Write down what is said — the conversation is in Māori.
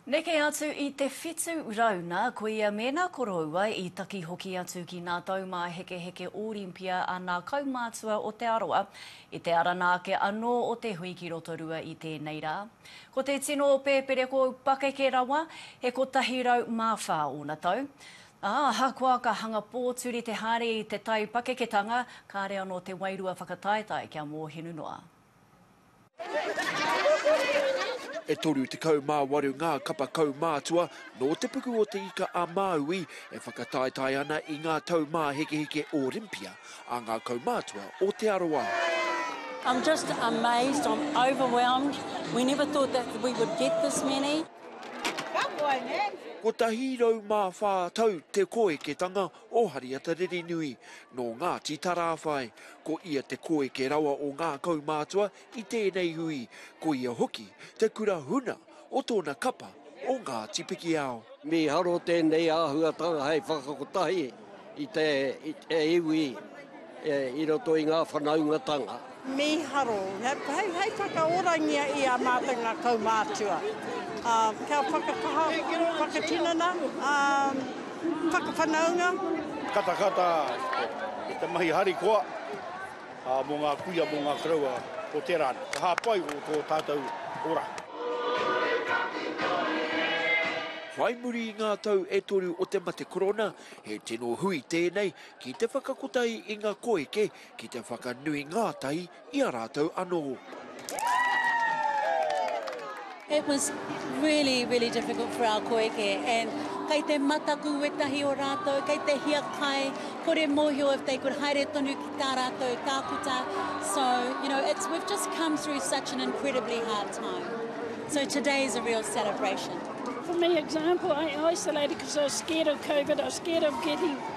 Neke atu i te whitu rau na koia me na koroua i taki hoki atu ki na taumahekeheke Orimpia a na kaumatua o Te Arawa i te arana ake ano o te hui ki Rotorua i tenei ra. Ko te tino o Peperekou pakeke rawa, he kotahi rau ma wha ona tau. A, ahakoa ka hanga poturi te hare i te tai pakeketanga, kare ano te wairua whakataetae kia mohinu noa. E 38 ngā kapa kaumātua nō te puku o Te Ika-a-Māui e whakataetae ana i ngā taumāhekeheke Orimpia a ngā kaumātua o Te Arawa. I'm just amazed, I'm overwhelmed. We never thought that we would get this many. Kotahi rau mā whā tau te koeketanga o Hariata Ririnui, nō Ngāti Tarāwhai. Ko ia te koeke rawa o ngā kaumātua i tēnei hui, ko ia hoki te kura huna o tōna kapa o Ngāti Pikiao. Mīharo tēnei āhuatanga hei whakakotahi i te iwi. I roto i ngā whanaungatanga. Mīharo, hei whakaorangia i a mātou ngā kaumātua, kia whakakaha, whakatinana, whakawhanaunga. Katakata i te mahi harikoa mō ngā kuia, mō ngā koroua o tērā anu. Ka hāpai o tō tātou ora. Whai muri i ngā tau e toru o te mate korona, he tino hui tēnei Ki te whakakotahi i nga koeke, ki te whakanui ngatahi i a ratou ano. It was really, really difficult for our koeke and kei te mataku wetahi o ratou, kei te hiakai, kore mohio if they could haere tonu ki ta ratou takuta. So, you know, it's, we've just come through such an incredibly hard time. So today is a real celebration. For me, example, I isolated because I was scared of COVID, I was scared of getting